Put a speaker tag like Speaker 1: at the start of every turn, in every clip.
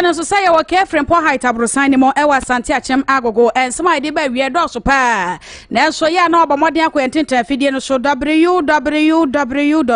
Speaker 1: no nso sɛ yɛwɔ kɛfrempɔ height aborosan no mu ɛwɔ asante akyɛm agogo ɛnsɛm a yɛde ba awie dɔɔso paa nanso yɛ a na ɔbɔ mmɔden akɔ yɛn tentena afidie no so www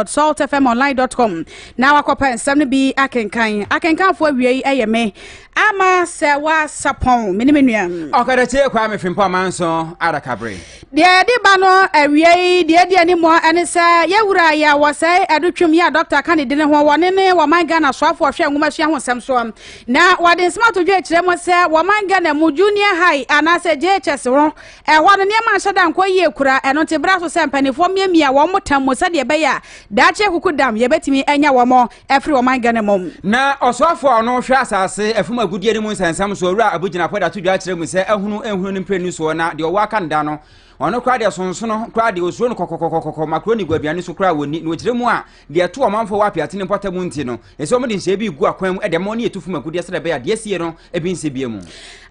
Speaker 1: saltfmonline com na wakɔpɛ nsɛm no bi akenkan akenkanfoɔ awiei ɛyɛ me Ama sɛ wɔasapɔn me ne me nuam. Ɔkadakye ɛkwa me fempɔ amanso adakabre. Deɛ ɛde ba no awiei deɛ ɛdi anim ɛne sɛ yɛwura yɛ wɔsɛe adutwam yi a dɔkta ka ne dini ho wɔne ne wɔman Ghana soafoɔ hwɛ nwomasua ho nsɛm soɔ na wɔde nsɛm ato dwa kyerɛ mu sɛ wɔman Ghana mu junior high anaasɛ JHS ho ɛhɔ no nneɛma nhyɛ da nkɔ yie kura ɛno nti bra so sɛ mpanimfoɔ miamia wɔn mo tam mu sɛdeɛ ɛbɛyɛ a daakye kuku dam yɛbɛtumi anya wɔn ɛfiri ɔman Ghana mu. Na ɔsoafoɔ a ɔno hwɛ asase ɛfam agudeɛ no mu nsɛnsɛm so owura Abu Gyinapo da to dwa kyerɛ mu sɛ ahunu nhunu no mprenu soɔ na deɛ ɔwɔ aka no da no ɔno koraa deɛ sonsono koraa deɛ osuro no kɔkɔkɔkɔkɔ makroni gu aduane so koraa wɔnni na ɔkyerɛ mu a deɛ ɛto ɔmanfoɔ wɔ apiatene mpɔtam mu nti no ɛsɛ wɔn de nhyɛ bi gu akwan mu ɛde ma wɔn ne yɛtu fam agudeɛ sɛdeɛ ɛbɛyɛ adeɛ sie no ebi nsɛ bie mu.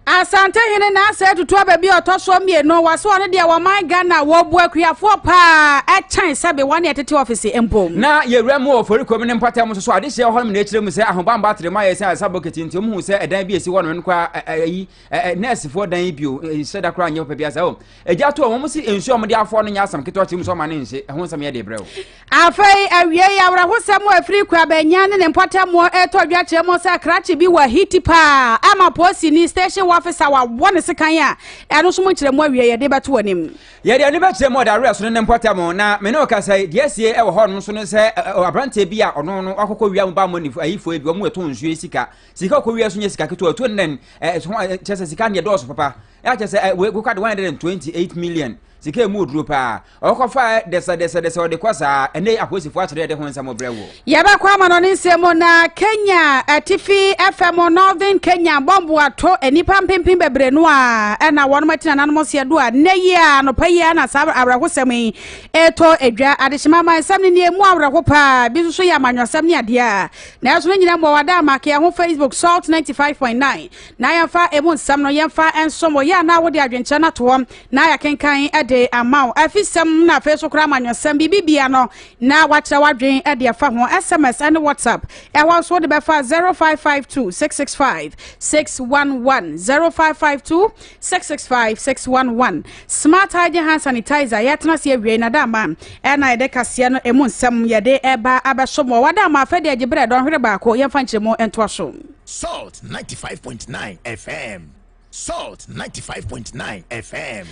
Speaker 1: Asantehene Nansah atutu aba bi a ɔtɔ soɔ mmienu, wasoa no deɛ wɔman Ghana wɔbu akuafoɔ paa ɛkyɛn sɛbe wɔne ɛtete ɔfese mpo. Na yɛwura mu wɔ Ɔfɔrikurom ne mpɔtam nso so adehyeɛ hɔ nom na ɛkyerɛ mu sɛ ahobamba atere mu ayɛ sɛ ayɛsa bokiti nti ɔmuhu sɛ ɛdan bi a ɛsi hɔ nom no koraa ayi nɛɛsefoɔ dan yi bio nhyɛ da koraa nyɛ papa bi asa o Agya to a wɔn si nsu a wɔde afɔ no nyɛ asɛm ketewa tirim sɛ ɔma no nhye. Ɛho nsɛm yɛ de brɛ o. Afei awie yi awerɛhosɛm a ɛfiri Kwabanyan ne ne mpɔtammoɔ ɛretɔ dwa kyerɛ mu sɛ krakye bi wɔ ahiti paa ama poosini, station officer, a wabɔ ne sekan a ɛno nso mu nkyerɛmu awie yɛde bɛto wɔ anim. Yɛde ani bɛkyerɛ mu ɔdawerɛ so ne ne mpɔtam na me ne ɔkasa yi deɛ asie ɛwɔ hɔ no nso ne sɛ aberanteɛ bi a ɔno no wakɔkɔ wia mu ba mmɔ ne ayifoɔ bi wɔn mu ɛtɔn nsuo sika sika ɔkɔ wia so nyɛ sika ketewa ɔtuo nnɛn kyerɛ sɛ sika ne ɛdɔɔso papa ya kyɛ sɛ wei koka de 128 million sika emu oduro paa ɔkɔfa dɛsɛdɛsɛdɛsɛ ɔde kɔ saa ɛnɛ apolisifoɔ akyerɛ ɛde ho nsɛm brɛ wo yɛbɛkɔ ama no ne nsɛm mu na kenya atifi fm northern kenya bɔmbo ato nnipa mpempem bebree no a ɛna wɔnom ati nananom seɛ do a nnɛ yi a anɔpa yi a na saa awerɛhosɛm yi ɛtɔ adwa adehyema ama nsɛm no neɛ mu awerɛho paa bi nso so yɛ amanyɔsɛm ne adeɛ a nanso no nyina mmɔ wada ama keɛ ho facebook salt 95.9 na yɛmfa emu nsɛm no yɛmfa nsom wɔ yɛ a na wode adwenkyerɛ no ato hɔ na yɛakenkan de ama wo afisɛm na afei so koraa amanyɔsɛm biribi bia no na wakyerɛ w'adwen de afa ho sms ne whatsapp ɛhɔ nso wode bɛfa 0552 665 611 0552 665 611 smart hygiene hand sanitizer yɛtena ase awie na dama ɛna yɛde kaseɛ no emu nsɛm yɛde ɛba abɛsom wɔ wadama afɛ de agye berɛ dɔnhwere baako yɛmfa nkyerɛ mu ntoa so Salt ninety five point nine FM. Salt ninety five point nine FM.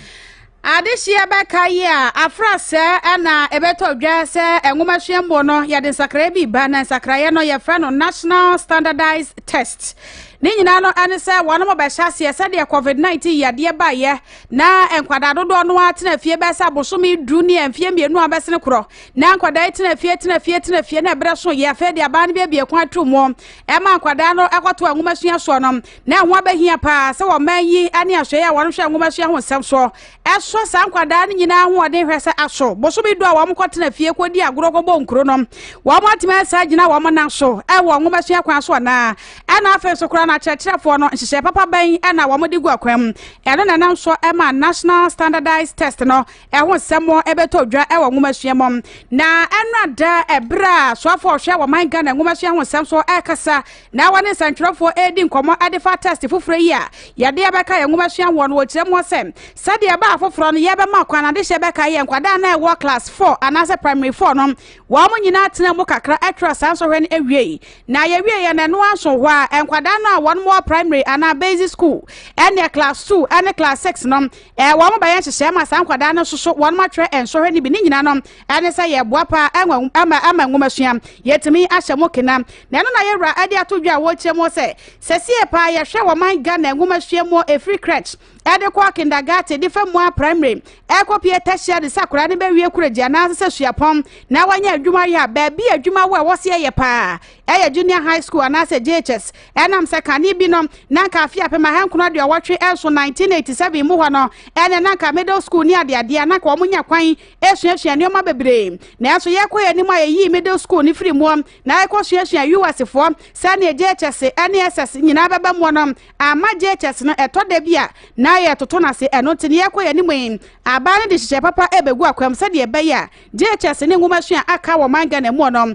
Speaker 1: adehyeɛ bɛka yi a afra sɛ ɛna ɛbɛtɔ dwa sɛ nwoma suamuo no yɛde nsakraeɛ bi ba na nsakraeɛ no yɛfrɛ no national standardized test ne nyinaa no ɛne sɛ wɔn mo bɛhyɛ aseɛ sɛdeɛ covid-19 yadeɛ baeɛ na nkwadaa dodoɔ no ara tena fie bɛsɛ abosome du ne mfeɛ mmienu a bɛsene korɔ na nkwadaa yi tena fie tena fie tena fie na ɛberɛ so yɛ afei de abaa no bi abie kwan ato mu Ɛma nkwadaa no kɔtoa nwomasua soɔ no, na ɛho abɛhia paa sɛ ɔman yi ne asoɛeɛ a wɔhwɛ nwomasua ho nsɛm soɔ sɔ saa nkwadaa no nyinaa ahoɔden hwɛ sɛ aso bosome du a wɔkɔtena fie kɔdi agorɔ kɔbɔ nkuro no wɔatumi asan agyina wɔn nan so wɔ nwomasua kwan so anaa. Ɛna afei nso koraa no akyerɛkyerɛfoɔ no nhyehyɛeɛ papa bɛn na wɔde gu akwan mu? Ɛno na ɛnam so ma National Standardized Test no ɛho nsɛm bɛtɔ dwa wɔ nwomasua mu na ɛno ada ɛberɛ a soafoɔ a ɔhwɛ wɔ man Ghana nwomasua ho nsɛm so ɛrekasa na wɔne nsɛntwerɛfoɔ ɛredi nkɔmmɔ ɛde fa test foforɔ yi a yɛde abɛka yɛn nwomasua hoɔ no wɔkyerɛ mu hɔ sɛ sɛdeɛ ɛbaa foforɔ no yɛbɛma kwan adehyɛ bɛka yɛ nkwadaa na ɛwɔ class 4 anaasɛ primary 4 no wɔn mo nyinaa tena mu kakra ɛtwerɛ saa nsɔhwɛ no awiei na yɛwie yɛ na ɛno anso hɔ a nkwadaa no a wɔn mo wɔ primary anaa basic school ɛne class 2 ɛne class 6 no Wɔbɛyɛ nhyehyɛe ma saa nkwadaa no nso so wɔatwerɛ nsɔhwɛ no bi. Ne nyinaa no, ɛne sɛ yɛboa pa ara ma nwomasua. Yɛatumi ahyɛ mo kena. Na ɛno na yɛn wura de ato dwa a wɔrekyerɛ mu sɛ, Sesie pa ara yɛhwɛ wɔ ɔman Ghana nwomasua mu ɛfiri crèche de kɔ kindergarten de fa mu ara primary rekɔpue tertiary sɛ akwadaa no bɛwie korɛgye anaasɛ sɛ suapɔn na wanya adwuma yɛ a, baabi a adwuma wɔ a ɛwɔ sɛ yɛyɛ pa ara yɛ Junior High School anaasɛ JHS. Ɛnam sɛ kane bi no, na anka afe apem ahankron aduɔwɔtwe nson, 1987, mu hɔ no, ɛne na anka Middle School ne adeadeɛ a na anka wɔnya kwan suasua nneɛma bebree. Nanso yɛkɔ yɛn anim a yɛyii Middle School no firii muo na yɛkɔsuasua US foɔ sɛdeɛ JHS ne SS nyinaa bɛba muo no, amma JHS no ɛtɔ da bi a na yɛtoto no ase. Ɛno nti no yɛkɔ yɛn anim yi, abaa no de nhyehyɛɛ papa ɛbɛgu akwam sɛdeɛ ɛbɛyɛ a JHS ne nwomasua a aka wɔ ɔman Ghana muo no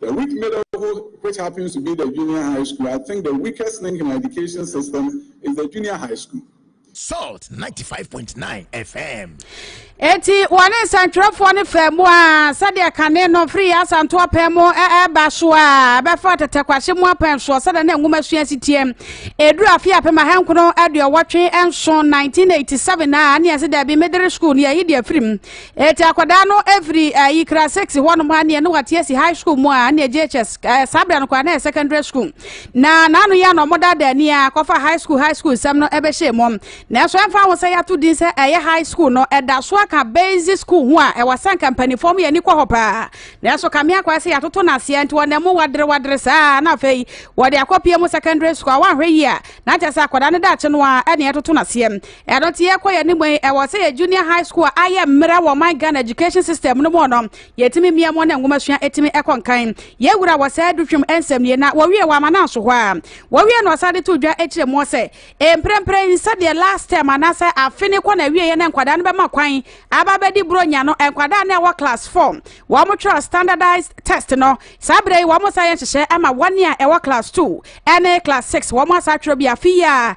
Speaker 1: The weak middleHo which happens to be the junior high school I think the weakest link in our education system is the junior high school. Salt 95.9 FM. eti wɔne nsɛntwerɛfoɔ no fɛ mu a sɛdeɛ kane no firi yɛ asanto apɛn mu ɛba so a ɛbɛfa tɛtɛkwahye mu apɛn soɔ sɛdeɛ na nwoma sua si teɛm ɛduru afe apem ahankono aduɔwɔtwe nso 1987 a ne ɛse daabi medere school ne yɛyi deɛ afirim Eti akwadaa no firi uh, eh, ikra six hɔnom ha neɛ ne wate asi high school mu a neɛ JHS uh, eh, saa berɛ no koraa na yɛ secondary school na naano yɛ na ɔmo daadaa ni a kɔfa high school high school nsɛm no ɛbɛhyɛ mu nanso ɛmfa ho sɛ yɛato din sɛ ɛyɛ high school no ɛda so aka basic school ho a ɛwɔ sɛ nka mpanimfoɔ mo yɛ ani kɔ hɔ paa nanso kame akwa sɛ yɛatoto no aseɛ nti wɔnam mu wadere wadere saa na afei wɔde akɔpie mu secondary school a wɔanhwɛ yi a na kyɛ sɛ akwadaa no daakye no a ɛne ɛtoto no aseɛ Ɛno nti yɛkɔ yɛn anim yi, ɛwɔ sɛ yɛ junior high school a ayɛ mmerɛ wɔ ɔman Ghana education system no mu no, yɛtumi mia mu na nwomasua ɛtumi ɛkɔ nkan. Yɛ wura wɔ saa adutwam nsɛm nie na wɔwie wɔ Amananso hɔ a. Wɔwie no ɔsan de to dwa ɛkyerɛ muɔ sɛ, mprɛmprɛ yi sɛdeɛ last term anaasɛ afe no kɔ no awieɛ na nkwadaa no bɛma kwan aba abɛdi Buronya no, nkwadaa no a ɛwɔ class four wɔn twerɛ standardized test no, saa berɛ yi wɔn san yɛ nhyehyɛɛ ama wɔn a ɛwɔ class two ɛne class six wɔn asan atwerɛ bi afe yi a.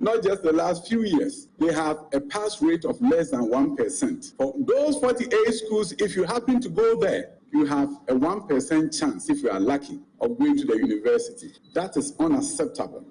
Speaker 1: Not just the last few years, they have a pass rate of less than one percent. For those forty eight schools, if you happen to go there, you have a one percent chance, if you are lucky, of going to the university. That is unacceptable.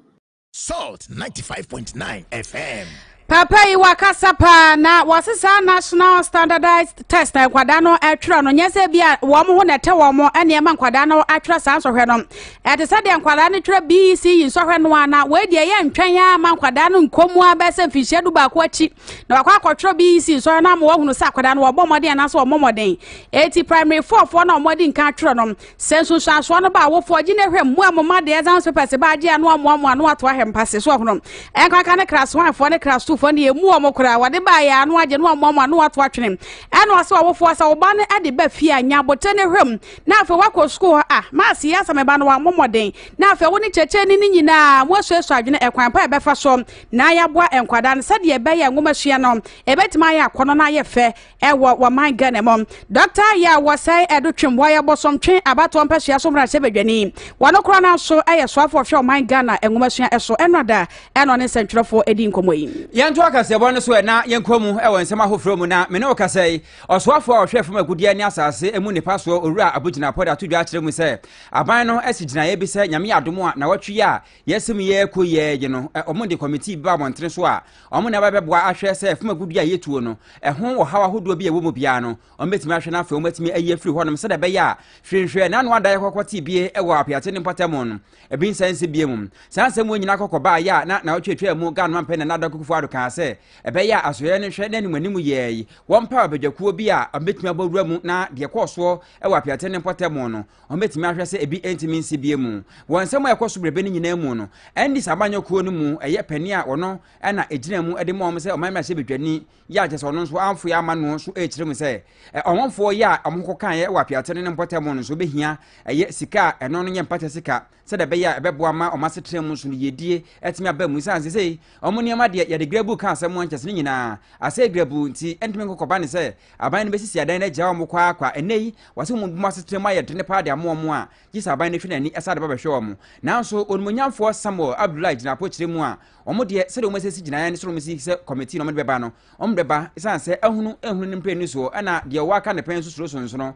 Speaker 1: Salt 95.9 FM. papa yi wakasa paa na wɔse saa national standardized test na nkwadaa no atwerɛ no nyɛ sɛ bi a wɔn ho na ɛtɛ wɔn ɛne ɛma nkwadaa no atwerɛ saa nsɔhwɛ no Ɛte sɛ deɛ nkwadaa no twerɛ BEC yi nsɔhwɛ no ara na wei deɛ yɛntwɛn ara ma nkwadaa no nkɔ mu ara bɛyɛ sɛ mfinhyia du baako akyi na wakɔ akɔtwerɛ BEC nsɔhwɛ no ama wahunu sɛ akwadaa no wɔbɔ mmɔden anaasɛ wɔmmɔ mmɔden. Enti primary four foɔ no a wɔadi nkan atwerɛ no, sɛ nsunsuansoɔ no ba a, awofoɔ gye no hwɛ mmoa mu ma deɛ exams papers ba agye a na wɔamoamoa na wɔato ahwɛ mpase so ɔhono. Ɛnkanka ne class one foɔ ne class two foɔ no deɛ ɛmmu wɔn koraa, wɔde baeɛ ara na wɔagye na wɔamoamoa na wɔato atwene. Ɛnna ɔsɛ awofoɔ sɛ wo ba no de ba fie a, nya abotire no hwɛ mu na afei woakɔ sukuu hɔ a, maase yɛ asa me ba no wammɔ mmɔden, na afei wo ne kyerɛkyerɛni no nyinaa moasuasua adwene ɛkwan pa a ɛbɛfa so na yɛaboa nkwadaa no sɛdeɛ ɛbɛyɛ a nwomasua no ɛbɛtumi ayɛ akɔnnɔ na ayɛ fɛ ɛwɔ wɔman Ghana mu. Dɔkta Ayɛ a wɔsɛe Ɛdo Twem, wɔyɛ Bosomtwe abatoɔ mpasua so mmarahyɛ badwani, wɔno koraa no ara nso yɛ soafoɔ hwɛ ɔman Ghana nwomasua so, ɛno ada ɛna ɔne nsɛntwerɛfoɔ ɛdi nkɔmmɔ yi. Yɛnto akaseɛbɔ no so ɛ na yɛnkɔ mu wɔ nsɛm ahoforɔ mu na me ne wo kasa yi. Ɔsoafoɔ a ɔhwɛ fam agudeɛ ne asase mu nnepa soɔ Owura Abudjina Apoda ato dwa akyerɛ mu sɛ, aban no asi gyinaeɛ bi sɛ Nyame adom a nnawɔtwe yi a yɛasi mu yi rekɔ yi ara akyi no, wɔde kɔmitii bi ba abɔntene so a wɔn na ɛba bɛboa ahwɛ sɛ fam agudeɛ a yɛtuo no ho ɔhaw ahodoɔ bi a ɛwɔ mu biara no, wɔbɛtumi ahwɛ na afei wɔatumi ayi afiri hɔnom sɛdeɛ ɛbɛyɛ a hwee nhwɛɛ na ano adan kɔkɔ tee bie wɔ Apeate ne mpɔtamu no, ebi nsan nsi bio mu. Saa nsɛm wei nyinaa kɔkɔ baeɛ a na nnawɔtwe atwaa mu Ghana Mampanin Nana Addo Akufo-Addo kaa sɛ, Ɛbɛyɛ a asɔre no hwɛ n'anim anim yɛe. Wɔmpaw abadwakuo bi a wɔbɛtumi abɔ wura mu na deɛ ɛkɔɔ soɔ wɔ apeaten no mpɔtam no, wɔbɛtumi ahwɛ sɛ ebi ntumi nsi bie mu. Wɔ nsɛm a ɛkɔ so berɛbɛ no nyinaa mu no, Andes amanyɔkuo no mu ɛyɛ panin a ɔno na ɛgyina mu de ma wɔn sɛ ɔman mmarahyɛbadwani yɛ a kyerɛ sɛ ɔno nso amfoe amma no so rekyerɛ mu sɛ ɔmanfoɔ yɛ a wɔkɔkaeɛ wɔ apeaten no mpɔtam no nso bɛhia ɛyɛ sika a ɛno no yɛ mpata sika sɛdeɛ ɛbɛyɛ a ɛbɛboa ma wɔn asetena mu nso no yiedie atumi aba mu ɛsiane sɛ sɛ wɔn nneɛma deɛ yɛde grabu ka asɛm ankyɛ sɛ ne nyinaa asɛe grabu nti ɛntumi nkɔkɔba ne sɛ aban no bɛsisi adan no agyaa wɔn kwaa kwa ɛnnɛ yi wɔse wɔn bom asetena mu ayɛ dene paa de amoa wɔn a gye sɛ aban no hwɛ n'ani ɛsa de ba bɛhwɛ wɔn nanso onimonyamfoɔ Samuel Abdullahi gyina apokyerɛ mu a wɔn deɛ sɛdeɛ wɔn asisi gyinaeɛ no sɛ wɔn si sɛ kɔmitii na wɔn de bɛba no wɔn bɛba ɛsiane sɛ ahunu ɛhunu ne mpɛ ni soɔ ɛna deɛ ɔwɔ aka ne pɛn nso suro sonsono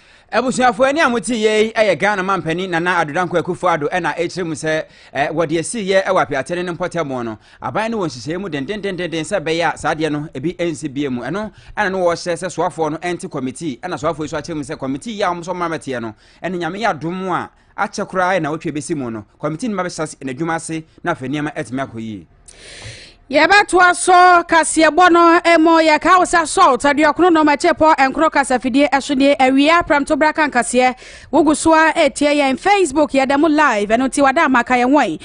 Speaker 1: Abusuafoɔ ɛnne a mo te yɛ yi ɛyɛ Ghana mampanin Nana Addo Dankwa Akufo Addo ɛna ɛkyerɛ mu sɛ ɛ wɔde asi yɛ ɛwɔ apiatene ne mpɔtamu no aban ne wɔn nhyehyɛeɛ mu dendendenden sɛ ɛbɛyɛ a saa adeɛ no ebi ɛnsi bie mu ɛno ɛna no wɔhyɛ sɛ soafoɔ no ɛnte kɔmitii ɛna soafoɔ yi so akyerɛ mu sɛ kɔmitii yi a wɔn so wɔn abɛteɛ no ɛne nyame yɛ adom a Akyɛ koraa a nnawɔtwe besi mu no, kɔmitii no bɛhyɛ ase n'adwuma ase na afei nneɛma atumi akɔ yie. yɛbɛtoa so kaseɛbɔ no mu yɛka wo sɛ salt aduɔkono nom akyepɔ nkoro kasafidie ɛso nie awia prɛmto bra ka nkaseɛ wogu so a ɛtie yɛn facebook yɛda mu live ɛno nti wada ama ka yɛn wɔn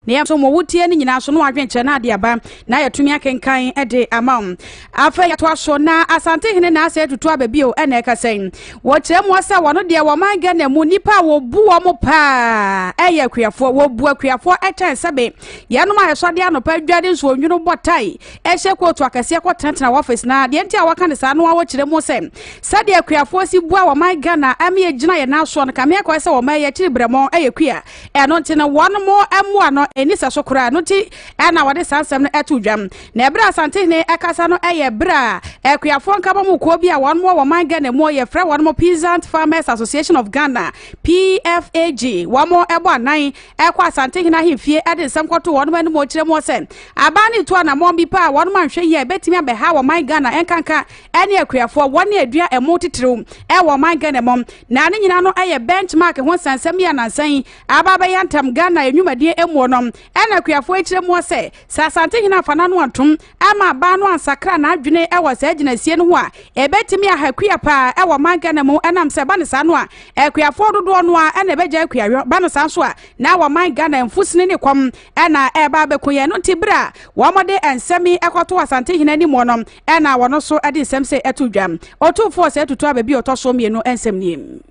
Speaker 1: na yɛn nso mo wotie no nyinaa so na wadwenkyerɛ no ade aba na yɛtumi akenkan de ama wo afei yɛtoa so na asantehene na asɛ tutu aba bio ɛna ɛka sɛ wɔkyerɛ mu sɛ wɔno deɛ wɔman ghana mu nnipa a wɔbu wɔ mo paa ɛyɛ akuafoɔ wɔbu akuafoɔ ɛkyɛn sɛbe yɛnom a yɛsɔde anɔpa adwade nso onwunu bɔ tae ɛhyɛ kootu akɛseɛ kɔtenatena wɔfis na deɛ nti a wɔka ne saa no a wɔkyerɛ mu sɛ sɛdeɛ akuafoɔ si bua wɔman ghana ɛme yɛgyina yɛn asoɔ no kame akɔɛ sɛ wɔma yɛkyiri brɛmɔ ɛyɛ kua ɛno nti no wɔn mo mmoa no ɛni sɛ so koraa no nti ɛna wɔde saa nsɛm no ɛto dwam na ɛberɛ a Asantehene ɛkasa no ɛyɛ berɛ a akuafoɔ nkabomu kuo bi a wɔn mo wɔ man Ghana mu yɛfrɛ wɔn mo Peasant Farmers Association of Ghana PFAG wɔn mo ɛbɔ anan ɛkɔ Asantehene ahemfie ɛde nsɛm kɔto wɔn mo anim ɔkyerɛ mu sɛ aban ne tu anamɔn bi paa wɔn mo anhwɛ yie a ɛbɛtumi abɛha wɔ man Ghana ɛnkanka ɛne akuafoɔ wɔn ne adua ɛmo titiriw ɛwɔ man Ghana mu Na ne nyinaa no yɛ benchmark ho nsɛnsɛm yi a nansa yi aba abɛyɛ ntam Ghana nnwumadie mmuo no. Ɛna akuafoɔ yi kyerɛ mua sɛ, sɛ Asantehene amfa n'ano antom amma abaa no ansakra n'adwene wɔ saa gyinasie no ho a, ɛbɛtumi aha kua paa wɔ man Ghana mu ɛnam sɛ ɛba no saa no a, akuafoɔ dodoɔ no ara na ɛbɛgyae kuayɔ, ba no saa nso a, na wɔ man Ghana mfusini ne kɔm na ɛreba abɛku yɛn. Ɛno nti, bere a wɔde nsɛm yi kɔto Asantehene anim no, na wɔn nso de nsɛm sei to dwa. Otumfoɔ sɛ tutu aba bi a ɔtɔ so mmienu nsɛm nie.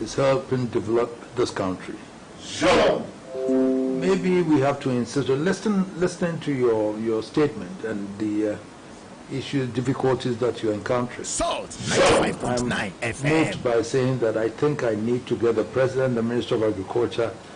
Speaker 1: is helping develop this country so maybe we have to insist on listen listening to your your statement and the uh, issues difficulties that you're encountering Salt so I'm moved by saying that I think I need to get the president the minister of agriculture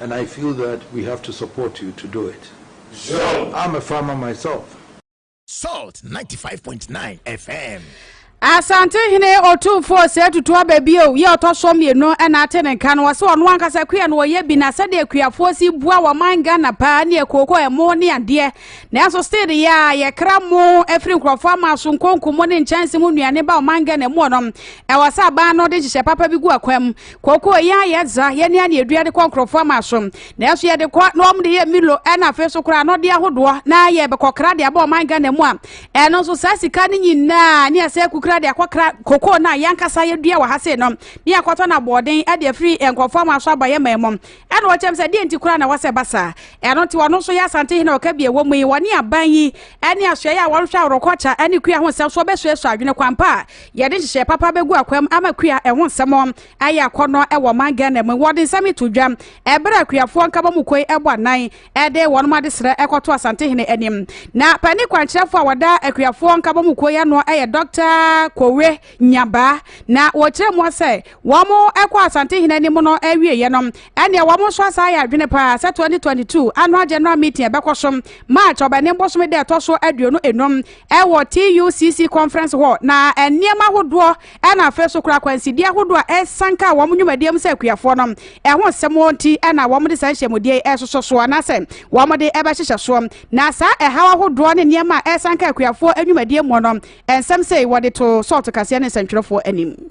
Speaker 1: And I feel that we have to support you to do it. Zhou. I'm a farmer myself. Salt 95.9 FM. asantehene ɔtumfoɔ sɛ atutu aba bio yɛ ɔtɔ so mmienu ɛna ate ne nka no wɔsɛ ɔno ankasa kua no wɔyɛ bi na sɛdeɛ kuafoɔ si bua wɔ man ghana paa ne ɛkooko ɛmo ne adeɛ nanso still de yɛ a yɛkra mo afiri nkurɔfoɔ ama so nkonko mo ne nkyɛnse mu nnuane ba ɔman ghana mu ɔnom ɛwɔ sɛ aban no de nhyehyɛ papa bi gu akwan mu koko yɛn a yɛdza yɛne a na yɛdua de kɔ nkurɔfoɔ ama asom nanso yɛde kɔ na wɔn de yɛ milo ɛna afei so koraa anɔdeɛ ahodoɔ na yɛbɛkɔkra de aba ɔman Ghana mu a ɛno nso saa sika no nyinaa ne asɛ kukura de akɔkra koko no a yɛnkasa yɛdua wɔ ha sei no ne akɔtɔ no aboɔden de afiri nkurɔfoɔ ama so aba yɛ man mu ɛna wɔkyɛm sɛ deɛ nti koraa na wɔsɛ ba saa ɛno nti wɔno nso yɛ asante hene ɔka bi ɛwɔ mu yi wɔne aban yi ɛne asoɛeɛ a wɔnhwɛ aworɔkɔkya ɛne kua ho nsɛm so wɔbɛsuasua adwene kwampa a Yɛde nhyehyɛe papa begu akwam ama kua ɛho nsɛm ayɛ akɔnnɔ wɔ ɔman Ghana mu. Wɔde nsɛm yi to dwa bere a kuafoɔ Nkabomuko yi bɔ anan de wɔn adesrɛ kɔto Asantehene anim. Na panin kwankyerɛfoɔ a ɔda akuafoɔ Nkabomuko yi ano yɛ Dɔkta Kowe Nyabaa. Na wɔkyerɛ mu sɛ wɔn kɔ Asantehene anim no awieɛ no, ɛneɛ wɔn nso asan ayɛ adwene paa sɛ 2022 Annual General Meeting a ɛbɛkɔ so March, Ɔbɛnem bosome da ɛtɔ so aduonu enum, wɔ TUCC Conference Hall, na nneɛma ahodoɔ na afei nso koraa akwansideɛ ahodoɔ a ɛresanka wɔn nnwumadie mu sɛ akuafoɔ no ho nsɛm nti na wɔde saa nhyiamudie yi resosɔ soɔ anaasɛ wɔde rebɛhyehyɛ soɔ. Na saa ɛhaw ahodoɔ ne nneɛma a ɛresanka akuafoɔ nnwumadie mu no nsɛm sei wɔde too sɔɔto kaseɛ ne nsɛntwerɛfoɔ anim.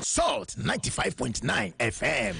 Speaker 1: Salt 95.9 FM.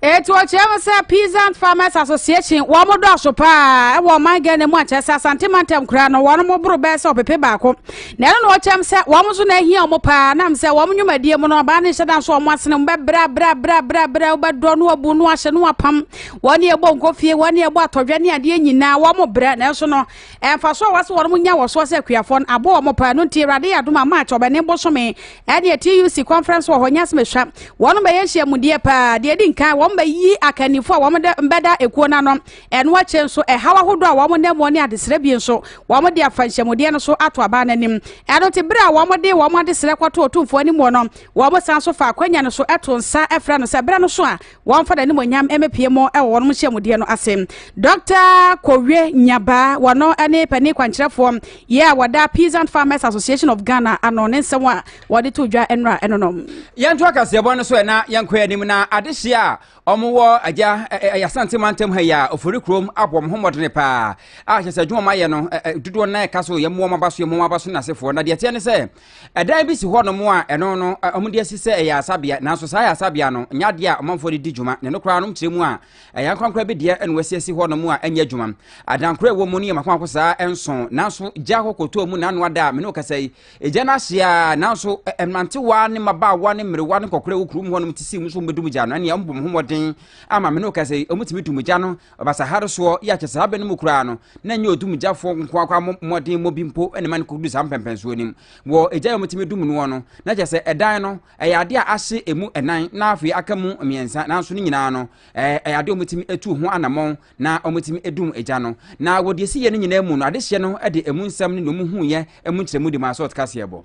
Speaker 1: Etu ɔkyerɛ mu sɛ Peasant Farmers Association wɔn mo dɔɔso paa ɛwɔ ɔman Ghana mu akyerɛ sɛ Asante mantam kura no wɔn mo boro bɛyɛ sɛ ɔpepe baako na ɛno na ɔkyerɛ mu sɛ wɔn nso na ehia wɔn paa nam sɛ wɔn nnwumadie mu no ɔbaa ne nhyɛdan so wɔn asene mu bɛbrɛ brɛ brɛ brɛ brɛ wobɛdɔ no abu no ahyɛ no apam wɔn ne ɛbɔ nkofie wɔn ne ɛbɔ atɔdwa ne adeɛ nyinaa wɔn mo brɛ nanso no ɛmfa so a wɔsɛ wɔn mo nya wɔ soɔ sɛ akuafoɔ no abɔ wɔn paa no nti awurade yɛ adom a march ɔbɛne bosome ɛneɛ tuc conference wɔ hɔ nyɛ asɛm ɛsua wɔn bɛyɛ nhyiamudeɛ paa deɛ ɛdi nkan wɔn bɛyi akannifoɔ a wɔn bɛda ekuo no ano ɛno akyire nso ɛhaw ahodoɔ a wɔn nam mu ne adesrɛ bi nso wɔn de afa nhyiamudeɛ no so ato abaa no anim ɛno te bere a wɔn de wɔn adesrɛ kɔto otumfoɔ anim no wɔn san so fa akwanya no so ɛto nsa ɛfrɛ no sɛ berɛ no so a wɔmfa n'animuonyam mmepie mu wɔ wɔn nhyiamudeɛ no ase dɔkta kowie nyabaa wɔno ne panin kwankyerɛfoɔ yɛ a wɔda peasant farmers association of ghana ano ne nsɛm a wɔde to dwa nnora ɛno no yɛnto akaseɛbɔ no so ɛna yɛnkɔ anim na adehyeɛ a wɔwɔ agya ayasante mantam ha yi a ofori kurom abɔ wɔn ho mmɔdene paa a kyɛ sɛ adwuma wɔayɛ no dodoɔ no na ɛka so yɛmmoa wɔn aba so yɛmmoa wɔn aba so nasefoɔ na deɛ ɛteɛ ne sɛ Ɛdan bi si hɔnom a ɛno no wɔde asi sɛ ɛyɛ asabea, nanso saa yɛ asabea no, nyɛ adeɛ a ɔmanfoɔ de di dwuma, na ɛno koraa nom kyerɛ mu a ɛyɛ ankorankora bi deɛ ɛna wɔasi asi hɔnom a ɛnyɛ adwuma. Adankora ɛwɔ mu no yɛ makomako saa nso, nanso gya hɔ kɔtɔɔ mu na ano ada a mene wo kasa yi. Egya no ahye a, nanso mmerantewa ne mmabaawa ne mmerewa ne nkɔkora wɔ kurom hɔnom te sɛ mu nso wɔbɛdum gya no, ɛnneɛ wɔbɔ wɔn ho mmɔden ama mene wo kasa yi, wɔtumi dum gya no Ɔbasaha soɔ yɛ akyɛ saa bɛ no mu koraa no, na nyɛ odumgyafoɔ nkoa koraa mmɔ mmɔden mmɔ bi mpo na ɛma no kɔduru saa mpɛnpɛnsoɔ no mu. Wɔ egya a wɔtumi dum noɔ no, na kyerɛ sɛ ɛdan no, ɛyɛ adeɛ a ahye ɛmu ɛnan na afei aka mu mmiɛnsa, nanso ne nyinaa no, ɛyɛ adeɛ a wɔtumi atu ho anammɔn na wɔtumi dum egya no. Na wɔ deɛ ɛsiiɛ no nyinaa mu no, adehyeɛ no de ɛmu nsɛm ne deɛ wɔhuiɛ mu nkyerɛmu de maa Sot Kaseɛbɔ.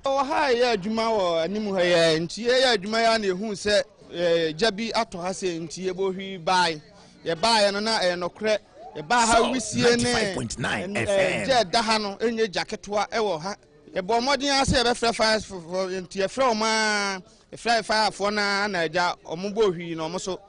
Speaker 1: Wɔ ha a yɛyɛ adwuma wɔ anim ha yɛ nti yɛyɛ adwuma yɛ a na yɛhuu sɛ gya bi atɔ ha sɛ nti yɛbɔ hwi bae yɛbaeɛ no na ɛyɛ nɔkorɛ yɛbaa ha wisie ne gya ɛda ha no ɛnyɛ gya ketewa ɛwɔ ha yɛbɔ mmɔden ara sɛ yɛbɛfrɛ fire nti yɛfrɛ wɔn ara Efraim fayafoɔ no ara na gya wɔn bɔɔ hwii na wɔn so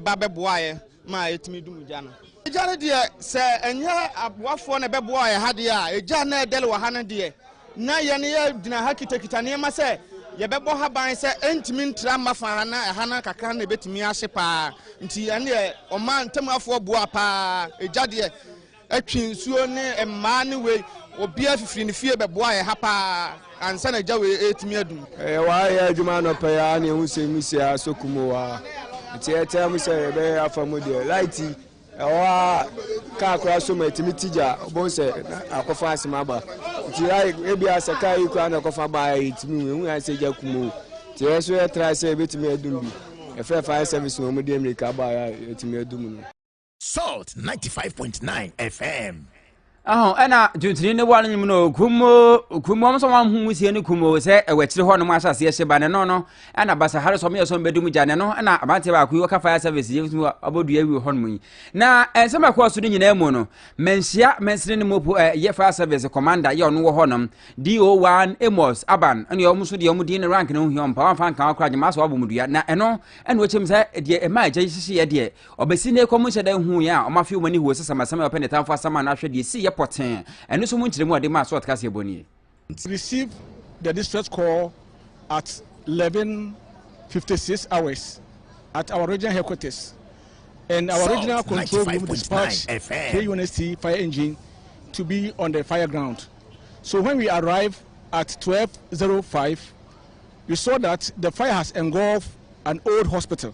Speaker 1: ba bɛboaeɛ ma ɛtumi dum gya no. Gya no deɛ, sɛ ɛnyɛ aboafoɔ na ɛbɛboaa yɛn ha deɛ a, gya a na ɛredɛre wɔ ha no deɛ, na yɛn yɛgyina ha kitakita nneɛma sɛ yɛbɛbɔ ha ban sɛ ɛntumi ntra mma fa ha na ɛha no kakra na ɛbɛtumi ahye pa ara. Nti ɛnneɛ wɔmaa ntamuafoɔ boaa pa ara. Gya deɛ. Twe nsuo ne mmaa ne wei. Obiara fifiri ne fie bɛboa yɛ ha paa ansa na gya wei retumi adum. Ɛyɛ wa yɛ adwuma anɔpa yi a na ehu sɛ mu si a so kum wɔ a. Nti ɛtaa mu sɛ yɛbɛyɛ afa mu deɛ light ɛwɔ a kaa koraa so ma etumi ti gya ɔbɔn sɛ akɔfa asɛm aba. Nti ebi asɛ kaa yi koraa na ɛkɔfa baa yɛ etumi ehu yɛn sɛ gya kum o. Nti yɛ so yɛ tra sɛ ebetumi adum bi. Ɛfɛ fire service wɔn mu deɛ mmirika baa yɛ etumi adum no. Salt 95.9 FM. ɛho ɛna tuntuni ne wɔn nyim no kumo kumo wɔn nso wɔn ho wusie ne kumo sɛ ɛwɔ akyire hɔ nom ahyɛ aseɛ hyɛ ba ne no no ɛna basa hare sɔm yɛ sɔm bɛdum gya ne no ɛna aberanteɛ baako yi wɔka fire service yɛ mu abɔdua awi hɔ nom yi na nsɛm a ɛkɔɔ so no nyinaa mu no manhyia mansini ne mopo ɛyɛ fire service commander yɛ ɔno wɔ hɔ nom do1 amos aban ɛne wɔn nso deɛ wɔn din ne rank ne ho hia wɔn pa wɔn afa nkan wɔn kora gyema so wɔabɔ mu dua na ɛno ɛna wɔkyɛm sɛ deɛ ɛma agya yi hyehyeɛ deɛ Ɔbɛsi nnɛ kɔ mo nhyɛ da nhuu yɛn a ɔmo afew mo ani huo sesam asɛm a ɔpɛ ne tamfo asɛm ano ahwɛ deɛ esii yɛ pɔtee ɛno nso mo nkyerɛmu a ɔde maa sɔɔt kaseɛbɔ nie. Received the distress call at eleven fifty six hours at our regional headquarters and our regional control room dispatched three units T fire engine to be on the fire ground so when we arrived at twelve zero five we saw that the fire has engulfed an old hospital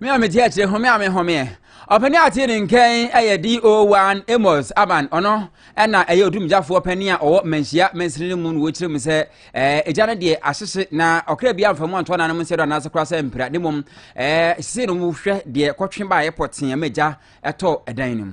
Speaker 1: Me a mete akyire home a mehomeɛ ɔpani a tee ne nkɛn ɛyɛ DO1 Amos Aban ɔno ɛna ɛyɛ odumgyafoɔ panin a ɔwɔ manhyia mansini no mu no wɔkyerɛ mu sɛ ɛɛ egya no deɛ ahyehye na ɔkra bi amfa mu antoa nanom nsɛ do anaasɛ koraa sɛ mpira ne mmom ɛɛ sisi no wohwɛ deɛ kɔtwe baeɛ pɔtee ama egya ɛtɔ ɛdan no mu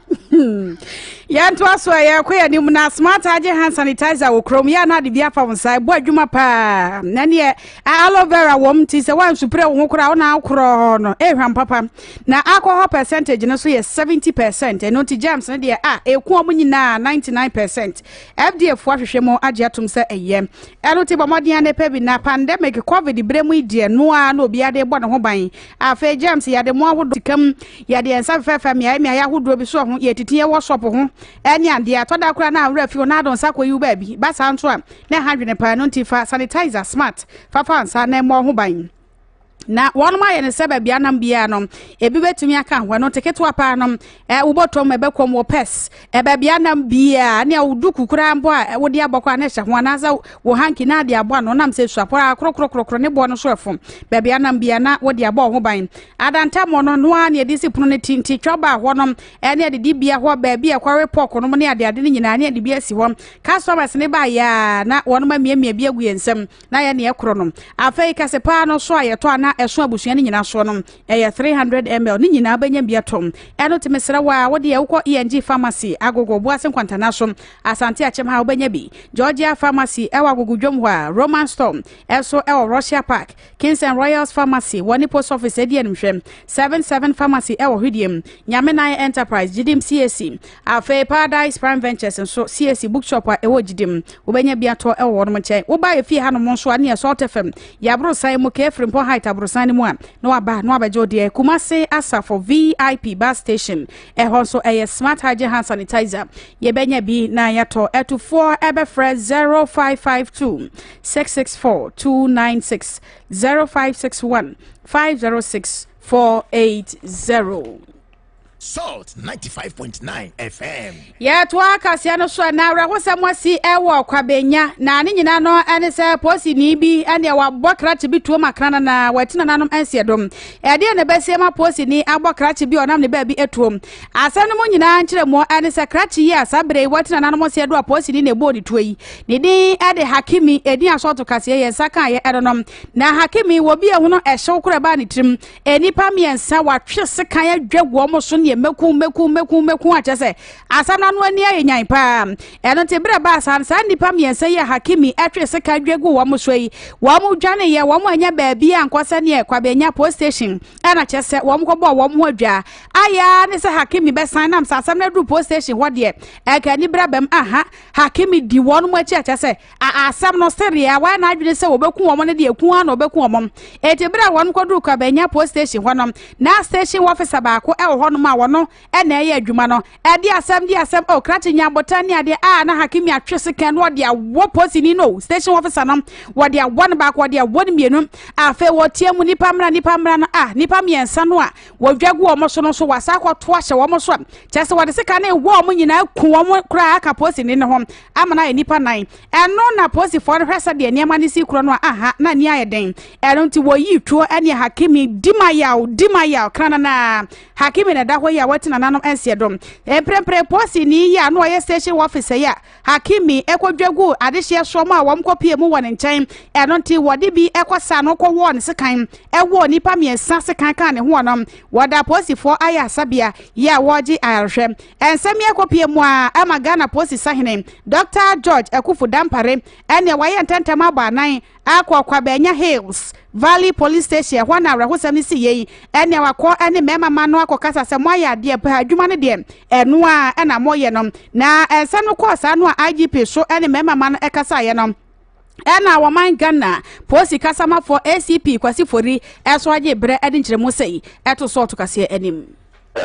Speaker 1: yɛntoa so a yɛkɔ yɛ anim na smart agye hand sanitizer wɔ kurom yɛ na ade bi afa wo nsa ɛbɔ adwuma paa na neɛ aloe vera wɔm nti sɛ woansupire wo ho koraa wo na akorɔ no ɛhwam papa na alcohol percentage no so yɛ 70 percent ɛno nti germs no deɛ a ɛku ɔmo nyinaa 99 percent fda foɔ ahwehwɛ mu agye atom sɛ ɛyɛ ɛno ti bɔ mmɔden a ne pɛ bi na pandemic covid berɛ mu deɛ noa na obiade bɔ ne ho ban Afei germs yɛde mo ahodoɔ sika mu yɛde yɛn nsa fɛfɛɛfɛ mmeaeɛ mmeaeɛ ahodoɔ bi soɔ ho yɛtiti yɛwɔ shop ho ɛne adeɛ atɔ da koraa na awura fi hɔ na adɔ nsa kɔ yiw baabi ba saa nso a na ɛha dwene paa no nti fa sanitizer smart fafa nsa na ɛmmɔ ho ban na wɔnom ayɛ ne sɛ baabi anam biara no ebi bɛtumi aka ho ɛno nte ketewa paa no Eh, wobɔtɔ mu, ɛbɛkɔ mu, wɔ purse, eh, baabi a nam biara, ne a wo duku koraa mbɔ a eh, wode abɔ koraa na ɛhyɛ ho, anaasɛ wo hanky na ade abɔ ano, nam sɛ suapɔ a krɔkrɔkrɔkrɔ ne boɔ no so ɛfom, baabi a nam biara na wode abɔ ho ban. Adantammɔ no, ɛno ara ne ɛde si pono no ti, nti twa baa hɔnom, eh, ne adidibea hɔ, baabi a ɛkɔwe pork nom ne adeade no nyinaa, ne ɛde bi asi hɔ. Customers no baeɛ a, na wɔnom amiamia bi agu yɛn nsam, na yɛne ɛkorɔ no. Afei, kɛse paa no, so a yɛtɔ a na ɛso abusua no nyinaa soɔ no, ɛyɛ 300ml ne nyinaa wobɛnya bi atɔm ɛno nti mesrɛ wo a wodeɛ wokɔ ENG pharmacy agogo boase nkwantana so asante akyɛm ha wobɛnya bi Georgia pharmacy ɛwɔ agogo dwom hɔ a Roman store ɛso ɛwɔ Russia Park Kings and Royals pharmacy wɔ ne post office ɛdi anim hwɛ 77 pharmacy ɛwɔ hwediem Nyame nan enterprise gyidim CAC Afei Paradise Prime Ventures nso siesie bookshop a ɛwɔ gyidi mu. Wobɛnya bi atɔ wɔ wɔnom nkyɛn. Woba yɛ fie hanom nso a ne yɛ Salt FM, yɛ aborosan mu kɛɛ Firimpɔn Height aborosan no mu a na waba na wabɛgye wo deɛ. Kumase Asafo VIP bus station ɛhɔ nso ɛyɛ Smart Hygiene Hand Sanitizer. Yɛbɛnya bi na yɛatɔ. Atufoɔ ɛbɛfrɛ 0552 664 296 0561 506 480. Salt 95.9 FM. yɛtoa kaseɛ no so na awerɛhosɛm asi wɔ kwabenya na ne nyinaa no ne sɛ posini bi ne wabɔ krakye bi tuo ma krana na wati nananom nseɛ dom ɛdeɛ na ɛbɛsie ma posini abɔ krakye bi ɔnam ne baabi atuom asɛm no mu nyinaa nkyerɛmuɔ ne sɛ krakye yi a saa berɛ yi wati nananom nseɛ do a posini na ɛbɔɔ ne tuo yi ne din de hakimi ɛdin asɔɔto kaseɛ yɛn nsa kaeɛ ɛno no na hakimi wɔ bi ɛhono ɛhyew korɔ ɛbaa ne tirim nnipa mmiɛnsa watwe sekan adwa wɔn so neɛ mɛku mɛku mɛku mɛku akyɛ sɛ asɛm no ano ani ayɛ nyan paa ɛno nti berɛ baa saa saa nnipa mmiɛnsa yi a hakimi atwe sekan adwa gu wɔn so yi wɔn dwaneyɛ wɔn anya baabi a nkɔ sɛ neɛ kwabɛnya post station ɛna kyɛ sɛ wɔn kɔbɔɔ wɔn ho adwa ayɛ ne sɛ hakimi bɛsan nam sɛ asɛm no aduru post station hɔ deɛ ɛka ani berɛ bɛm aha hakimi di wɔn mu akyi akyɛ sɛ A Asɛm no sɛdeɛ wɔayɛ n'adwene sɛ wɔbɛku wɔn no deɛ ku ara na wɔbɛku wɔn. Enti berɛ a wɔkɔduruu Kwabenya Police Station hɔ no, na station officer baako wɔ hɔnom a ɔno na ɛreyɛ adwuma no. Ɛde asɛm de asɛm o, krakye nyanbotan ne adeɛ a na Hakimi atwe se kɛn na ɔde awɔ polisini no o, station officer no, wɔde awɔ no baako, wɔde awɔ no mmienu. Afei wɔteam, Nnipa mmra, nnipa mmra no a, nnipa mmiɛnsa no a wɔdwa gu wɔn so no nso wɔasan akɔto ahyɛ wɔn so a kyerɛ sɛ wɔde sekan no rewɔ wɔn nyinaa, aku wɔn koraa aka polisini no ho. Amana yɛ nnipa nnan. Ɛno na Polisifoɔ no hwɛ sɛdeɛ nneɛma no si korɔ no a, aha, na ani ayɛ den. Ɛno nti wɔyii Tuo ne Hakimi di ma yaw, di ma yaw, krananaa. Hakimi na ɛda hɔ yi a wati nananom nseɛ do. Mprempren polisini yi a na ɔyɛ station officer yi a Hakimi kɔdwa guu adehyeɛ soɔ mu a wɔkɔpuee mu wɔ ne nkyɛn, ɛno nti wɔde bi kɔsaa no kɔwɔɔ no sekan, wɔɔ nnipa mmiɛnsa sekan kaa ne ho wɔnom. Wɔda Polisifoɔ ayarasabea yi a wɔregye ayarehwɛ. Nsɛm yi akɔpue mu ara ama Ghana Posi Sahene Dɔktaa George Akuffo Dampare ɛnneɛ wayɛ ntɛntɛm abɔ anan akɔ Ɔkwabɛanya Hills Valley Police Station, ɛhɔ na awerɛhosɛm no siiɛ yi, ɛnneɛ wakɔ ɛne mmarima mma no akɔkasa sɛ moayɛ adeɛ paa, adwuma no deɛ ɛno ara na moyɛ no. Na nsɛm no kɔɔ saa no a IGP Soh ɛne mmarima mma no kasaeɛ no, ɛna wɔman ghana polisi kasamafoɔ acp kwasi fori ɛso agye berɛ ɛde nkyerɛmu sɛ yi ɛto so ɔto kaseɛ anim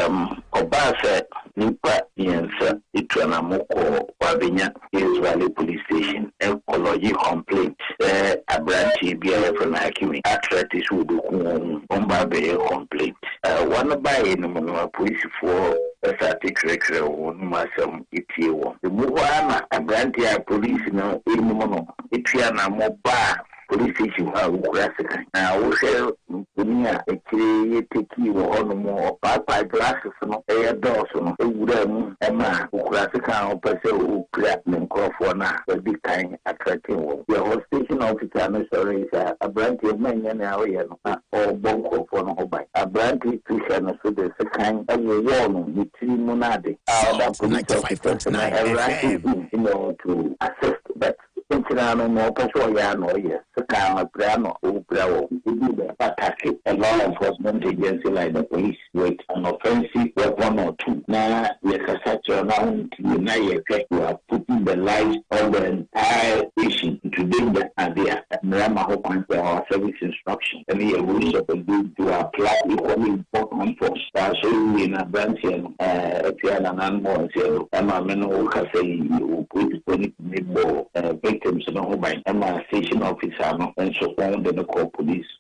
Speaker 1: um, ɔbaa sɛ nnipa mmiɛnsa tu anamo kɔɔ Wabenya Hills Valley Police Station rekɔlɔgye complaint sɛ aberanteɛ bi a yɛfrɛ no Hakimi atrɛte sɛ ɔbɛku wɔn mu. Wɔba abɛyɛ complaint. Uh, wɔn baeɛ no mu no, apolisifoɔ sate twerɛtwerɛ wɔn mu asɛm. etie wɔn. Emu hɔ ara na aberante a polisi no nim no tu anammɔ baa polisi station hɔ a wokura sekan. Na wohwɛ mfoni a akyire yi yɛtekii wɔ hɔ no mu a, ɔpaepae glasses no yɛ dɔɔso no wuraa mu ma okurasekan a ɔpɛ sɛ opira ne nkurɔfoɔ no a wadi kan atrɛten wɔn. Yɛhɔ station officer no sɔree sɛ, Aberanteɛ, manyɛ nea woyɛ no. na ɔrebɔ nkurɔfoɔ no ho ban. Aberante Trisha no nso de sekan wowɔɔ no ne tiri mu no ade. a ɔda police officer so na awura Eddie Ntimeo too assist but nkyena no na ɔpɛ sɛ ɔyɛ a na ɔyɛ sekan ma pira na ɔrepira wɔ ho. Ebi bɛ attack law enforcement agency like the police. with an offensive weapon or two na yɛkasa kyerɛ no a ɔntie na yɛhwɛ you are putting the lives of the entire nation into danger ade a, mmara ma ho kwan sɛ our service instructions ne yɛn rules of engagement to apply equally important force. Saa nso wiee no aberanteɛ no piaa nananom wɔ nseɛ do ma me ne wo kasa yi yɛwɔ policefoɔ no tumi bɔɔ victims no ho ban ma station officer no nso wɔn de no kɔɔ police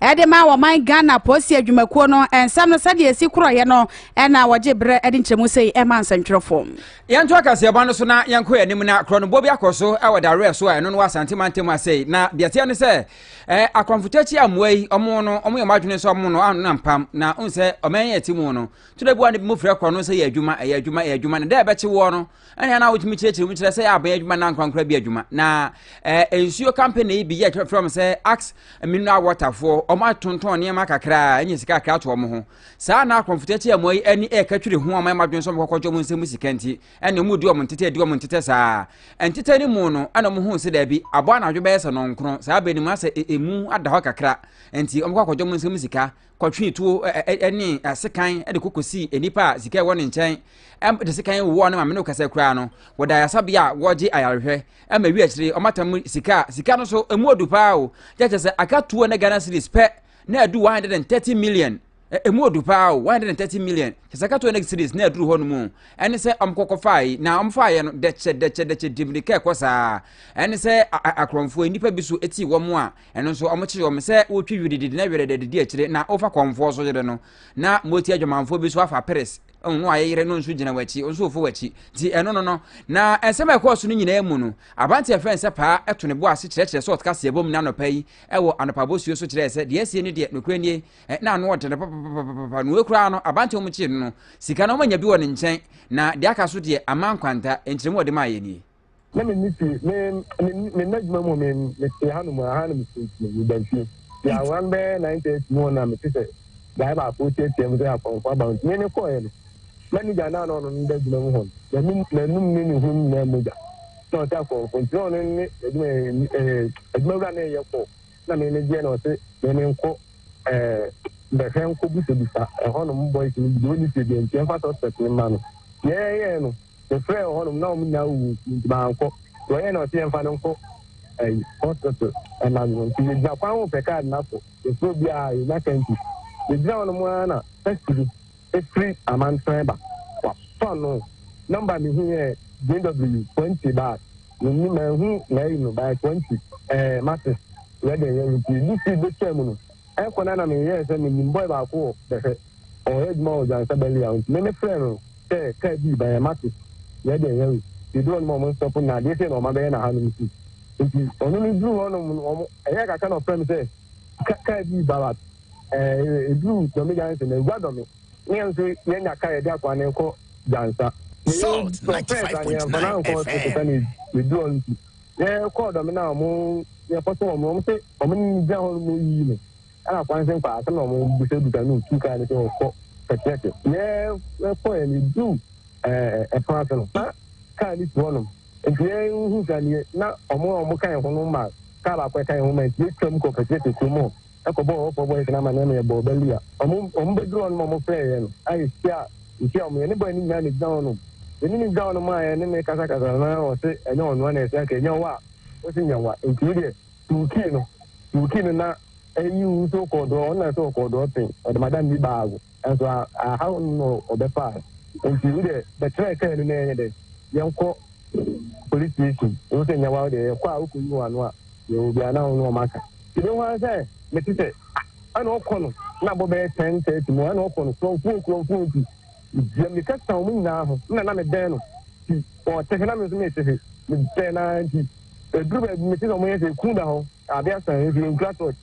Speaker 1: Ɛde ma ɔman Ghana Polisi Adwumakuo no nsɛm no sɛdeɛ ɛsi korɔeɛ no na wɔgye berɛ de nkyerɛmu sei ɛma nsɛntwerɛfoɔ. Yɛnto akaseɛbɔ no so na yɛnkɔ yɛn anim na korɔnobɔ bi akɔ so wɔ Dawerɛ so a ɛno no wɔ Asante mantam ha sei na deɛ ɛteɛ ne sɛ eh, akwanfotakyi a mmoa yi ɔmo no ɔmo yɛ ɔmo adwene sɛ ɔmo no ano na mpam na ɔn sɛ ɔman yɛ ti mu no todɛ bi wa no bi mu frɛ korɔno sɛ yɛ adwuma ɛyɛ adwuma ɛyɛ adwuma na dɛ ɛbɛkye woɔ no ɛne ana wotumi kyerɛkyerɛ mu kyerɛ sɛ yɛ abɛn adwuma na nkorankora bi adwuma na ɛɛ eh, nsuo kampani yi bi yɛ kyerɛkyerɛ mu sɛ ax mineral waterfoɔ wɔn atontɔn nneɛma kakra ɛnyɛ sika kakra to wɔn ho saa na akɔnfotɛ kyɛ wɔn yi ɛne ɛka twere ho wɔn ɛma adwene sɔm kɔkɔ gye wɔn nsɛm sika nti ɛne wɔn di wɔn ntetɛ di wɔn ntetɛ saa ntetɛ ne mu no ɛna wɔn ho sɛ dɛbi abɔ anadwo bɛyɛ sɛ nɔnkron saa bɛn mu asɛ emu ada hɔ kakra nti wɔn kɔ akɔgye wɔn nsɛm sika kɔtwee tuo ne sekan de kɔkɔsii nnipa a sika ɛwɔ ne nkyɛn de sekan wowɔ ne maame no kasa koraa no wɔda ayasabea a wɔgye ayarehwɛ ma wi akyire ɔmatam sika sika no so ɛmu ɔdu paa o kyɛkyɛ sɛ aka tuo ne ghana series pɛ na ɛdu 130 million ɛmu ɔdu paa o 130 million kyɛ sɛ aka tuo ne series na ɛduru hɔ no mu ɛne sɛ ɔmkɔkɔ fae na ɔmfaeɛ no dɛkyɛ dɛkyɛ dɛkyɛ dimdika ɛkɔ saa ɛne sɛ akorɔmfoɔ nnipa bi so ɛti wɔn a Ɛno nso wɔkyere wɔn sɛ wotwi wirididi na wiredɛ didi akyire na wofa kɔmfoɔ so yere no na moti adwamanfoɔ bi so afa peres ɔno no ayɛ yere no nso gyina w'akyi nso wofo w'akyi nti ɛno no no na nsɛm a ɛkɔɔ so no nyinaa mu no abante ɛfɛ nsɛ paa ɛto ne bo ase kyerɛkyerɛ sɛ ɔteka seɛ bom ne anɔpa yi ɛwɔ anɔpa bosuo so kyerɛɛ sɛ deɛ asie no deɛ nokorɛ nie na ano ɔde no papapapapa na wɔkuraa no abante wɔn kyee no no sika no wɔanya bi wɔ ne nkyɛn na deɛ aka so deɛ ama nkwanta nkyerɛmu ɔde maa yɛ nie na menni fie. Me, me, me nna adwuma mu me, mete hanom a, ha na mesinti, meda fie. Ti aworan bɛyɛ 9:30 mu na mete sɛ gyae baako tiatia mu sɛ apɔnkɔ aba ho. Nti me ne kɔɔɛ no. Manager na na ɔno no da adwuma mu hɔ no, n'anum, n'anum ne ne ho nyinaa mogya. Na ɔte apɔnkɔ, nti na ɔno ne adwuma, ɛɛ, adwuma wura na ɛyɛ kɔɔ. Na me ne gyeɛ na ɔse, me ne nkɔ, ɛɛ, bɛhwɛ nkɔ busabisa ɛhɔnom boys no bi, deɛ ɔnni fie deɛ nti ɛmfa suspect no mma no. Yɛɛyɛɛ no. Mefrɛɛ wɔ hɔnom na wɔn nyinaa wuwu nti nti mankɔ. Nti ɔyɛɛ na ɔse yɛmfa no nkɔ ɛyi hospital anadwo. Nti yɛgyina kwan ho pɛ kaa nna so. Yɛfrɛ obiara yɛnya ka nti yɛgyina hɔnom ara na taxi bi efiri Amantran ba. Watɔ no number mehu yɛ JW 20 but menni manhu n'ayi no by 20 ɛɛ Martins Wedding yɛ nti yɛdi speed betwaa mu no. Ɛkɔ no ara na meyɛɛ sɛ menim bɔe baako wɔ bɛhwɛ. Ɔyɛ adwuma wɔ Dwansa Bɛn Lea nti me me frɛɛ no sɛ car bii ba yɛn mate yɛ deɛ yɛwe yɛduru ɔnom a ɔmo nstɔpo nna adeɛ sei na ɔma bɛyɛ no aha nom sei nti ɔno no duru hɔ nom no ɔmo ɛyɛɛ kakra na ɔfrɛ me sɛ ka car bii ba bat ɛɛ ɛduru Dɔme Jansen na ɛgua Dɔme ne yɛn nso yɛnya car yɛde akɔ anee kɔ Dwansa. Salt 95.9 FM. na kɔɔ dɔm no a ɔmo yɛ kɔtɔ wɔn no ɔmo sɛ ɔmo ne no gyina hɔ no mo yiyi no ɛna kwan sɛ nkɔ asɛm na ɔmo bisa bisa no tu kaa ne sɛ ɔkɔ kɛkɛkɛ na ɛkɔ yɛ ne du ɛɛ ɛpono ase no na kaa ne tu hɔ nom nti yɛn ho sɛ neɛ na ɔmo a ɔmo ka yɛn ho no ma kaa baako ɛka yɛn ho ma nti yɛtwam kɔ kɛkɛkɛ kurom hɔ kɔbɔɔ Ɔwɔfoɔ Boys no amanneɛ ma yɛbɔɔ ba Leah. Wɔn bɛduruu hɔ no ma wɔfrɛɛ yɛn a yɛhyiaa yɛhyiaa wɔn. Yɛne boy no nyinaa na ɛgyina hɔ nom. Yɛne no gyina hɔ nom a yɛne no rekasakasa no na ɔse ɛnyɛ ɔnoa na ɛse anka ɛnyɛ wo a ɔse nyɛ wo a nti wo deɛ tu wo key no tu wo key no na ɛyi wo nso wokɔɔ doɔ ɔno na ɛse ɔkɔɔ doɔ ɔse ɔde madam bi baa wo nso a ahaw no na ɔbɛfaa no nti wo deɛ bɛtrɛ kaa no na ɛnyɛ dɛ yɛnkɔ police station wo sɛ nyɛ wa wo deɛ yɛkɔ a wokɔ yi wɔ ano a yɛwɔ obi a na wo ne ɔma ka ti bɛ ho ara sɛ mete sɛ ɛna ɔkɔ no na bɔ bɛyɛ ten thirty mu ɛna ɔkɔ no kurɔmfuo kurɔmfuo nti yɛ meka sa wɔn nyinaa ho na na mebɛn no ti ɔte he na me nso mete he mebɛn naa nti ɛduru baabi mete sɛ ɔmo yɛ sɛ kun da hɔ adeɛ asan nso yɛnkura tɔɔkye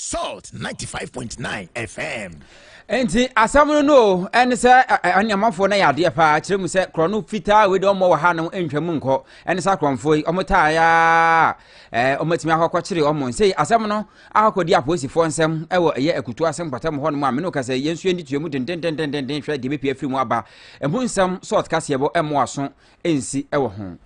Speaker 1: Salt 95.9 FM. nti asɛm no no ɛne sɛ anuamanfoɔ no yɛ adeɛ paa kyerɛ mu sɛ korɔ no fitaa wei de ɔmmɔ wɔ ha no ntwa mu nkɔ ɛne sɛ akorɔmfoɔ yi ɔmo taa yɛ a ɔmatumi akɔkɔkyere ɔmo nsɛ asɛm no akɔdi apolisifoɔ nsɛm ɛwɔ ɛyɛ akutu ase mpata mu hɔ no mu a mene ka sɛ yɛn nso yɛndi tuamu dendendendenden hwɛ deɛ bɛpia firi mu aba ɛmu nsɛm sɛ ɔtekaseɛbɔ ɛmmoa so nsi wɔ ho.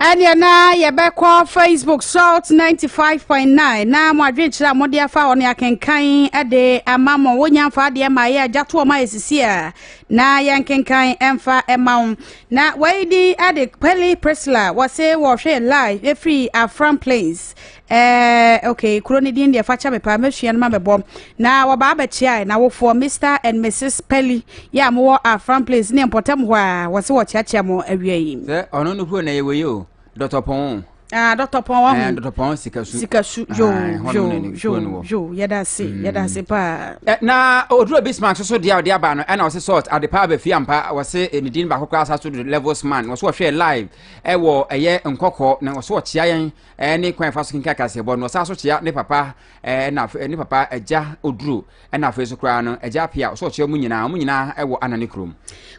Speaker 1: ɛneɛ na yɛbɛkɔ facebook salt 95.9 na mo adwenkyerɛ a mode afa hɔ no yɛakenkan de ama mo wonya mfa adeɛ ma yɛ agya toɔ ma ɛsisi a na yɛnkenkan ɛmfa ɛma wo na wei din de pele prisla wɔse wɔhwɛ live ɛfiri afram plains Eh, okay, kuro ne din deɛ fa kyɛ me paa mɛsua no ma mɛbɔ na wɔbaa bɛkyeae na wofoɔ Mr and Mrs Pelly yɛ a mowɔ Afram Place ne mpɔtam hɔ a wɔse wɔkyeakyea mo awia yi sɛ ɔno no kuro na yɛwɔ yi o Dr. Pɔn Ah, Dr. Pɔn wahu eh, Dr. Pɔn sikasu sikasu yo ah, yo yo yo yɛda ase mm. yɛda ase paa eh, na oduro Bismarck so so deɛ ɔde aba no ɛna ɔse salt ade paa bɛfi ampa wɔse eh, ne din baako koraa sa so do levels man wɔse wɔhwɛ live ɛwɔ ɛyɛ nkɔkɔɔ na wɔse wɔkyea yɛn ɛne kwan fa so kenkan kaseɛbɔ no ɔsan so kyea ne papa ɛna ne papa agya oduro ɛna afei so koraa no agya apia ɔsɔ ɔkyea mu nyinaa wɔn nyinaa ɛwɔ ana ne kurom.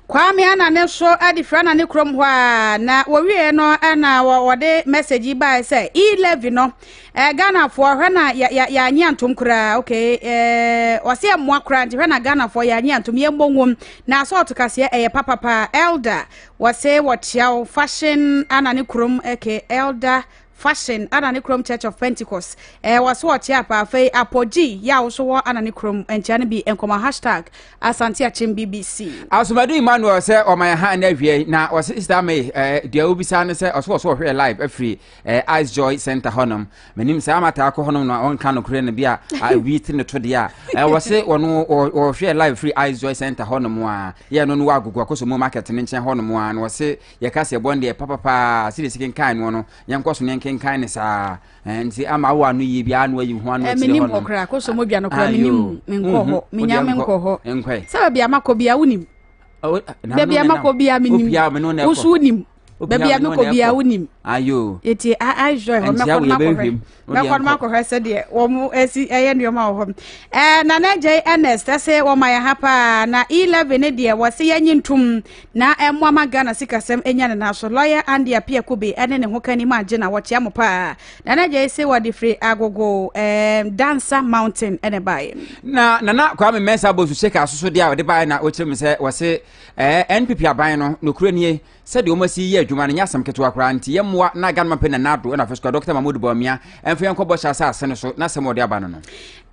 Speaker 1: kwame ana ne so ɛde fira ana ne kurom hɔ a na wɔwie no ɛna wɔde message yi bae sɛ e-levy no ɛɛ ghanafoɔ hwɛ na yɛanye antom koraa ok ɛɛ wɔsɛ ɛmoa koraa nti hwɛ na ghanafoɔ yɛanye antom yɛn bɔ nwom na asɔɔto kaseɛ ɛyɛ papapa elder Wɔsee wɔ Chiao Fashion ana ne kurom ɛkɛ Elder Fashion ana ne kurom Church of Pentecost ɛɛ wɔso wɔ Chiao pa afei Apogyi yɛ a woso wɔ ana ne kurom nkyɛn no bi nkɔmɔ hashtag Asante Akyem BBC. Asomadu Emmanuel sɛ ɔma yɛn ha ɛnɛ awie na ɔse Star May ɛɛ deɛ wobisa no sɛ ɔso wɔso wɔhwɛ yɛ live afiri ɛɛ Ice Joy Center hɔnom menim saa mataa kɔ hɔnom na ɔnka nokorɛ no bi a awi te ne to deɛ a ɛwɔ se ɔno ɔhwɛ live free ice joy center hɔnom a yɛ no no wɔ agogo akɔsɔ mu market no nkyɛn hɔnom a na ɔse yɛka sɛ ɛbɔ no deɛ papapaa sɛdeɛ si kenkan no no yɛnkɔ so ne nkenkan ne saa nti ama wo ano yie biara na wayi ho ano akyire hɔnom menim hɔ koraa akɔsɔ mu adwa no koraa menim menkɔ hɔ menya menkɔ hɔ sɛ baabi a makɔ biara wonim baabi a makɔ biara menim woso wonim baabi a mekɔ biara wonim nti israel hɔ mɛkɔ no makɔhwɛ mɛkɔ no makɔhwɛ sɛdeɛ wɔm asi ɛyɛ nneɔma wɔ hɔ nana agya yi ernest ɛsɛ wɔma yɛ ha paa na e11 ne deɛ wɔse yɛnye ntom na ɛmmoa ma ghana sikasɛm ɛnya ne na so lɔyɛ ande apia kobe ɛne ne ho ka nim agye na wɔkyea mo paa nana agya yi se wɔde firi agogo dansa mountain ɛne baeɛ na nana kwame mɛnsa bɔ su sɛ ka soso deɛ a wɔde baeɛ na wɔkyerɛ mu sɛ wɔse Ɛɛ NPP aban no, nokorɛ nie, sɛdeɛ wɔn asi yɛ adwuma no nyɛ asɛm ketewa koraa, nti yɛn mmoa na Ghana Mampɛ Nana Addo ɛna Afesuka Dɔkta Mahmood Bawumia ɛnfa yɛn nkɔ bɔhyɛ asaase no so n'asɛm a ɔde aba no no.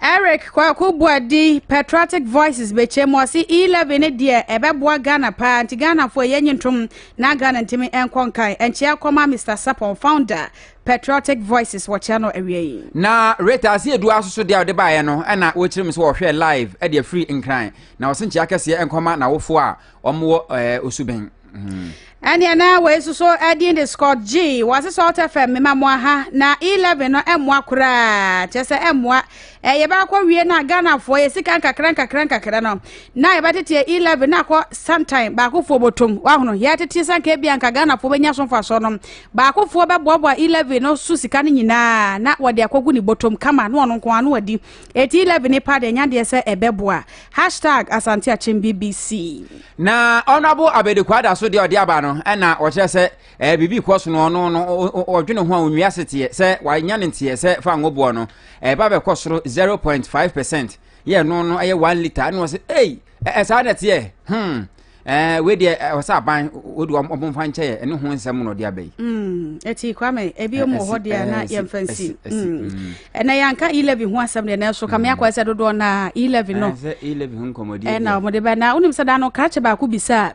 Speaker 1: Eric Kwaku Boadi, Patriotic Voices bɛkyɛm, ɔse E-levy no deɛ ɛbɛboa Ghana paa, nti Ghanafoɔ yɛn nyi ntom na Ghana ntimi nkɔ nkan. Nkyea kɔma Mister Sapon, Founder, Patriotic Voices wɔ Channel awia yi. Na Rita Asiedu asoso deɛ a ɔde baeɛ no ɛna wɔkyerɛ mu sɛ wɔhwɛɛ live ɛde afiri Nkran. na ɔse nkyea kɛseɛ nkɔma n'awofoɔ a wɔn wɔ ɛɛ eh, osu bɛn hmm. ɛneɛ na wei so so ɛdin de scott g wɔse salt fm mema mo aha na e11 no ɛmmoa koraa kyerɛ sɛ ɛmmoa ɛyɛ bɛakɔ wie no a ghanafoɔ yɛ sika nkakra nkakra nkakra no na yɛbɛteteɛ e11 na akɔ santan baakofoɔ bɔtom wahono yɛteteɛ sanka bia nka ghanafoɔ bɛnya so mfasoɔ no baakofoɔ bɛboaboa e11 no so sika no nyinaa na wɔde akɔgu ne bɔtom kama na ɔno nko ano adi Eti levy ne pa deɛ nya deɛ sɛ ɛbɛ boa. Hashtag Asante Akyem BBC. Na Honourable Abedi Kwada so deɛ ɔde aba no ɛna ɔkyerɛ sɛ ɛɛ biribi kɔ so no ɔno no ɔdwene ho a onwia seteɛ sɛ wanya ne nteɛ sɛ fa ngoboɔ no ɛba bɛkɔ soro 0.5 percent yɛ ɛno no ɛyɛ 1 litre ɛna ɔsɛ ei ɛɛ saa na ɛteɛ hmm ɛɛ wei deɛ ɛwɔ sɛ aban wodi wɔn wɔn mfa nkyɛ yɛ ɛne ho nsɛm na ɔde aba yi. Mm, ɛti kwame ebi mu hɔ deɛ na yɛmfa nsi ɛnɛ yɛnka elevi ho asɛm deɛ nanso kame akɔ sɛ dodoɔ na elevi no ɛna wɔde bɛ na wonim sɛ da no krakye baako bisa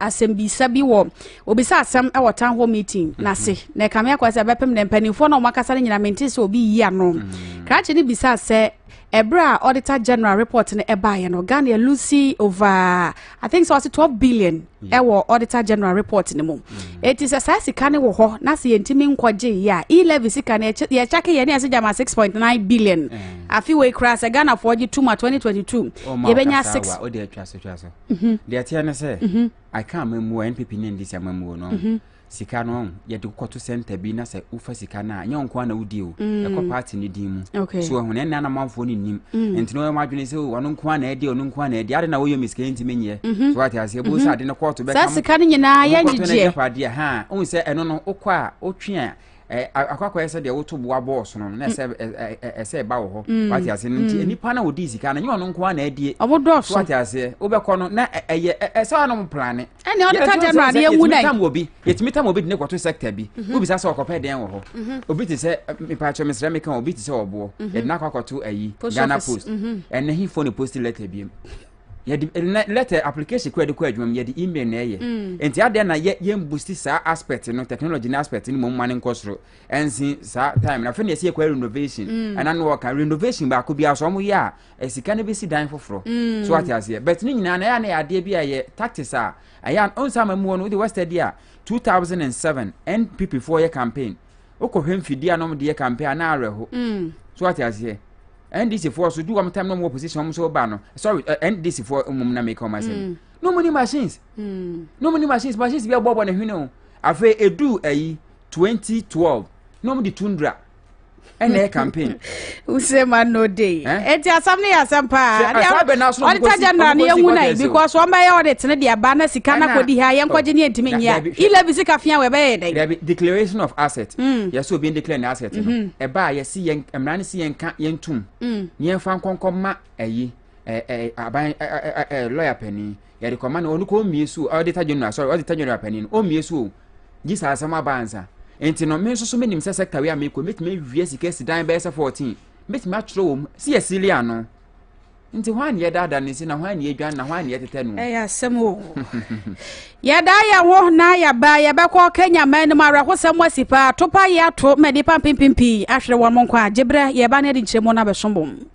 Speaker 1: asɛm bisa bi wɔ obisa asɛm ɛwɔ town hall meeting na se na kame akɔ sɛ bɛpem ne mpanimfoɔ na wɔn akasa no nyina mente sɛ obi yi ano krakye no bisa sɛ ɛberɛ a auditor general report no ɛbaeɛ no ghana lucy over i think so ɔse 12 billion mm. ɛwɔ auditor general report no mu ɛti mm. sɛ saa sika no wɔ hɔ na sɛ yɛntumi nkɔgye yɛ a e-levy sika no yɛkyake yɛ ne ɛsɛ gyama 6.9 billion eh. afe wei koraa sɛ ghanafoɔ gye tom a 2022 yɛbɛnya 6 deɛ ɛteɛ ne sɛ mhm. i can't remember npp ne ndc amamuo no mhm. sika no ɔn yɛde wokɔto sɛnta bi na sɛ wofa sika no a nyɛ nko na wodi o mm. ɛkɔ party no din mu okay. so ɛho na ɛnna na manfoɔ no nnim mm. nti na wɔyɛ adwene sɛ oh, ɔno nko na ɛdi ɔno nko na ɛdi ade na wɔyɛ mi sika ntumi nyɛ mhm. so wate aseɛ bo sɛ mhm. ade no kɔɔto bɛka saa sika no nyinaa yɛ nyegyeɛ padeɛ ha wohu sɛ ɛno no wokɔ a wotwe a akɔakɔyɛ sɛ deɛ woto boa bɔɔ sono no na ɛsɛ mm. ɛsɛ ɛba wɔ hɔ wate aseɛ no nti nnipa na wɔdi sika no nyɛ ɔno nko na ɛdie ɔmo dɔɔso wate aseɛ wobɛkɔ no na ɛyɛ ɛsɛ ɔnom plane ɛne ɔde ka dɛm na adeɛ nwu dɛn. yɛtumi tam wɔ bi yɛtumi tam wɔ bi de ne kɔto sɛkta bi mhm. wobisa sɛ ɔkɔpɛ dɛn wɔ hɔ mhm. obi te sɛ mpakyɛ mesrɛ meka obi te sɛ ɔboɔ mhm. yɛde no akɔ akɔto ayi ghana post ɛnɛ hifo ne post letter biam yɛde eh, letter application kura de kɔ adwuma mu yɛde email na ɛyɛ mm. nti adeɛ na yɛ yɛn boost saa aspect no technology no aspect no mu mma ne nkɔ soro ɛnsi saa time na afei na yɛsi yɛkɔ renovation mm. ɛna no wɔka renovation baako bi aso wɔn yɛ a Eh, sika no bɛsi dan foforɔ mm. so ate aseɛ but ne nyinaa na ɛyɛ na yɛ adeɛ bi a yɛ tactics a ɛyɛ ɔnsa ma mu wɔ no wode west adi a 2007 npp foɔ yɛ campaign wokɔhwɛ mfidie a nom de yɛ campaign a na awerɛho mm. so ate aseɛ ndc foɔ so du wɔn tam na wɔn wɔ position wɔn so ba no sorry uh, eh, ndc foɔ mmom na meka wɔn asɛm mm. na wɔn ni machines mm. na wɔn ni machines machines bi abɔbɔ ne hwene o afei edu ayi 2012 na wɔn de tundra ɛna ɛyɛ campaign. wusɛ ma no de eti asam ne yɛ asam paa ɔde ta general ne yɛnwu na yi because wɔn bɛyɛ ɔde tene de aba na sika na kɔdi ha yɛn kɔgye ne ntumi nyia ilɛ bi sika fia wɔ ɛbɛyɛ dɛ. dabi declaration of asset mm. yɛsɛ obi n declare ne asset no mm-hmm. ɛba a yɛsi yɛn mmara ne si yɛn ka yɛn tum mm. ne yɛn fa nkɔnkɔ ma ɛyi ɛɛ aban ɛɛ lɔya panyin yɛde kɔma no ɔno kɔ ɔmmie so ɔdita general sorry ɔdita general panin ɔmmie so o gye saa asɛm aba ansa nti no me nso so menim sɛ sector wei a mekɔ mɛtumi awie sika si dan bɛyɛ sɛ 14 mɛtumi atwerɛ wɔ mu sɛ yɛsili ano nti hɔ a ne yɛdaada no si na hɔ a ne yɛdwan na hɔ a ne yɛtetɛ no ɛyɛ asɛm o yɛda yɛ ho na yɛba yɛbɛkɔ kenya ma anim awerɛhosɛm asi paa topa yɛ ato ma nnipa mpempem pii ahwere wɔn nkwa agyeberɛ yɛba no de nkyerɛmu no abɛso bom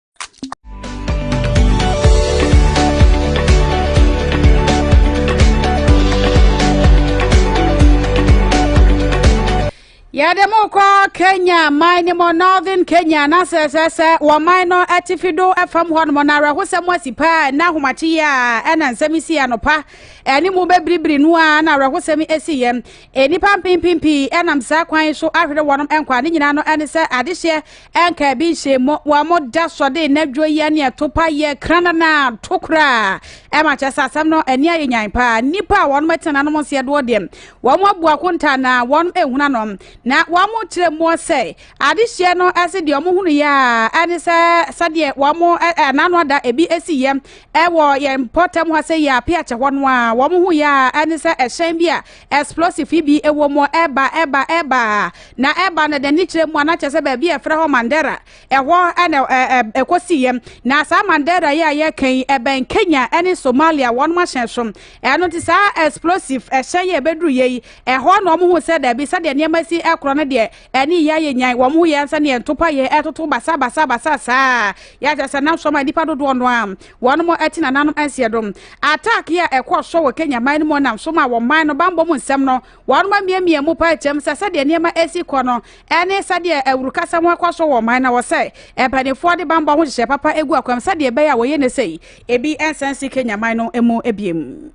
Speaker 1: yɛde mo kɔ kenya man no mu northern kenya na sɛ sɛ sɛ wɔman no atifi do fam hɔ nom na awerɛhosɛm asi paa ɛna ahomakye yi a ɛna nsɛm si anopa ɛne mu bɛbiribiri no a na awerɛhosɛm asi yɛ nnipa mpempem pii ɛnam saa kwan so ahwere wɔnom nkwa ne nyinaa no ɛne sɛ adehyeɛ Ɛnka ebi nhyɛ mu wɔn mo da sɔ de n'adwo yɛ ne ɛto pa yɛ kranana to koraa ɛma kyɛ sɛ asɛm no ani ayɛ nyan paa nnipa a wɔn ɛtena nom nseɛ doɔ deɛ wɔn mo abu akonta na wɔn ehuna nom na wɔn mo kyerɛ mu sɛ adehyeɛ no ɛse deɛ wɔn hunu yɛ a ɛne sɛ sɛdeɛ wɔn mo ɛnano ada ebi esi yɛ ɛwɔ yɛn mpɔtam hɔ sɛ yɛ ape akyɛ hɔ no a wɔn ho yɛ a ɛne sɛ ɛhyɛn bi a Explosive yi bi wɔ mu, ɛba, ɛba, ɛba, na ɛba no dɛn? Ne kyerɛ mu a, na kyerɛ sɛ baabi a yɛfrɛ hɔ Mandera, ɛhɔ na ɛkɔsiiɛ. Na saa Mandera yi a yɛreka yi, ɛbɛn Kenya ne Somalia wɔn ahyɛn so. Ɛno nti saa explosive ɛhyɛn yi a ɛbɛduruiɛ yi, ɛhɔ na wɔhuu sɛ dabi, sɛdeɛ nneɛma si korɔ no deɛ, ɛne yei ayɛ nyan. Wɔhuu yɛn sɛdeɛ ntopa yei ɛtoto basa basa basa saa, yɛ a kyerɛ sɛ na nsuo ama nnipa dodoɔ no ara. Wɔnom te nananom ansie do. Attack yi a ɛkɔɔ so wɔ Kenya man no mu nam so maa wɔn man no bammɔ mu nsɛm no, wɔnom amiamia mu pae kyɛm sɛ sɛdeɛ nneɛma resi kɔ no ne sɛdeɛ awurukasɛm rekɔ so wɔ wɔn man no wɔ sɛ mpaninfoɔ de bammɔ ho nhyehyɛɛ papa gu akwam sɛdeɛ ɛbɛyɛ a wɔyɛ ne sei ebi nsan si Kenya man no mu biom.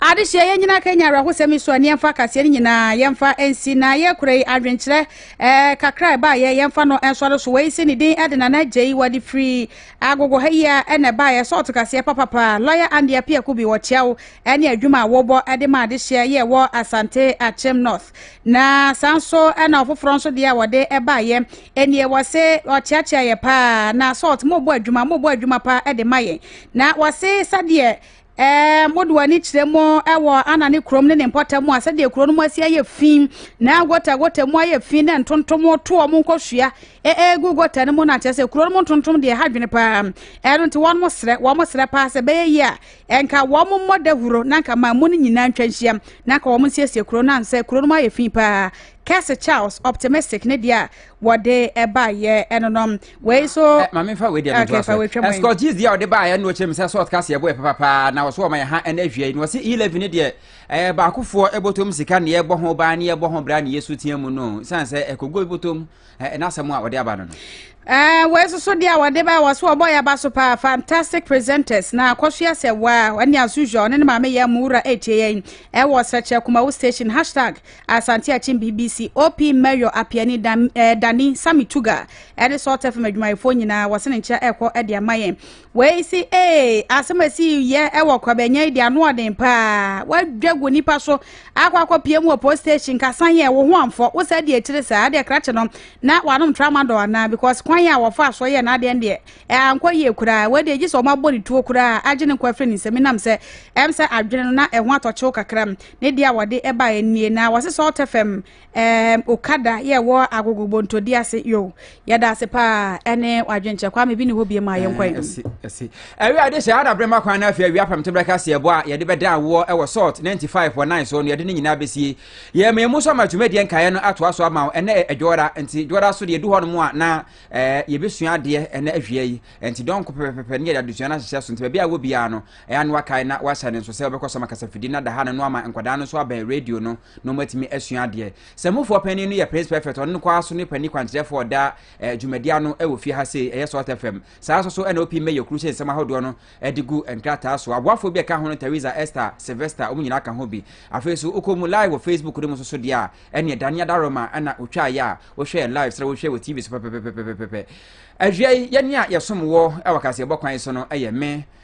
Speaker 1: adehyeɛ yɛn nyinaa ka nya awerɛhosɛm yi so a nneɛmfa akaseɛ no nyinaa yɛmfa nsi na yɛkora yi adwenkyerɛ eh, kakra ɛbaeɛ yɛmfa no nsɔre so wei se ne din ɛde nana agya yi wɔde firi agogo ha yi a ɛna ɛbaeɛ sɛ ɔto kaseɛ papapa lɔya ande apiako bi wɔkyea wo ɛne adwuma a wɔbɔ ɛde ma adehyeɛ yɛ wɔ asante akyem north na saa nso ɛna ɔfoforɔ nso deɛ a wɔde ɛbaeɛ ɛnie wɔ se ɔkyeakyea yɛ paa na salt mobɔ adwuma mobɔ adwuma paa ɛde ma yɛn Na wɔse sɛdeɛ ɛɛ mode w'ani kyerɛ mu wɔ ana ne kurom ne ne mpɔtam a sɛdeɛ kuro no mu asi ayɛ fi na gota gota mu ayɛ fi na ntontom toɔ mu nkɔsua ɛɛgu gota no mu na kyerɛ sɛ kuro no mu ntontom deɛ ha dwene paa ɛno nti wɔn mo serɛ wɔn mo serɛ paa sɛ bɛyɛ yi a ɛnka wɔn mo mmɔ dahuro na nka man mu no nyinaa ntwa nhyia na nka wɔn nsiesie kuro no ansɛ kuro no mu ayɛ fi paa Kɛse Charles optimistic ne deɛ a wɔde baayɛ no no wei so. Eh, maame nfa wei deɛ no ntoa so ɛsikɔ gyees deɛ ɔde baayɛ no kyerɛ mu sɛ sɔɔt kaseɛ bo yɛ papapaa na wɔso wɔn yɛ ha ɛna ahwia yi na wɔsi eleven ne deɛ ɛɛ eh, baakofoɔ ɛbɔtɔm sika ne ɛbɔ ho ban ne ɛbɔ ho bra ne yɛ so tia mu no san sɛ ɛkɔgɔ ɛbɔtɔm ɛɛ n'asɛm a wɔde aba no no. Eh, wei soso deɛ wɔde ba wɔ so wɔbɔ yɛ aba so paa fantastic presenters na akɔsoa sɛ waa ɛne as usual ɔne ne maame yɛ mu wura ɛtie yɛn ɛwɔ sɛkyɛ kumawo station hashtag Asante Akyem BBC OP Mayor Apiani Dan, eh, Dani Sami Tuga ɛne Salt FM adwumayɛfoɔ nyinaa wɔse ne nkyerɛ ɛkɔ ɛde ama yɛn wei se ee asɛm esi yɛ ɛwɔ kwabɛnyɛ yi de ano ɔden paa wadwa gu nipa so akɔ akɔ pie mu wɔ post station kasan yɛ wo ho amfɔ wo sɛ de akyire saa deɛ krakye no na wanom tramadol anaa because kwan a wɔfa so yɛ n'adeɛ deɛ ɛankɔ yie koraa wei deɛ gye sɛ wɔn abɔ ne tuo koraa agye ne nkɔ afiri ne nsɛm nam sɛ ɛm sɛ adwene no na ɛho atɔkyew kakra Ne deɛ a wɔde baeɛ nie na wɔse salt fm um, okada yɛ wɔ agogo bontodi ase yo yɛda ase paa ɛne wadwenkyɛ kwa me bi ne hɔ bie ma yɛnkɔ yi ɛsi ɛwi ade hyɛ ana bere ma kwan na afei awia pam tebra kase ɛbɔ a yɛde bɛda awoɔ ɛwɔ salt 95 wɔ 9 so no yɛde ne nyinaa bɛsie yɛ me mu so ama dwumadie nkaeɛ no atoa so ama ɛnɛ ɛdwɔra nti dwɔra so deɛ du hɔ no mu a na yɛbɛsua adeɛ ɛnɛ ahwia yi nti dɔnko pɛpɛpɛ ne yɛde adesua no ahyehyɛ so nti baabi a wɔ biara no Ɛyɛ a na wakae na wahyɛ no nso sɛ ɔbɛkɔ so ama kasafidie no ada ha no na wama nkwadaa no nso abɛn radio no na wɔatumi asua adeɛ. Sammufoɔ panin no yɛ Prince Perfect, ɔno nko ara so ne panin kwankyerɛfoɔ ɔda eh, dwumadi ano wɔ fie ha sei, ɛyɛ Salt FM. Saa nso so ɛna opi mmɛyɛ kuru hyɛ nsɛm ahodoɔ no de gu nkrataa so. Aboafoɔ bi a ɛka ho no Teresa, Esther, Sylvester, wɔn nyinaa ka ho bi. Afei nso wokɔ mu live wɔ Facebook no mu nso so deɛ a ɛneɛ Dania Daroma ɛna ɔtwaa yɛ a wohwɛɛ live sɛ wohwɛ wɔ TV so pɛpɛpɛpɛpɛpɛ. Awia yi yɛne a yɛsom wɔ ɛwɔ kaseɛbɔ kwan so no ɛyɛ me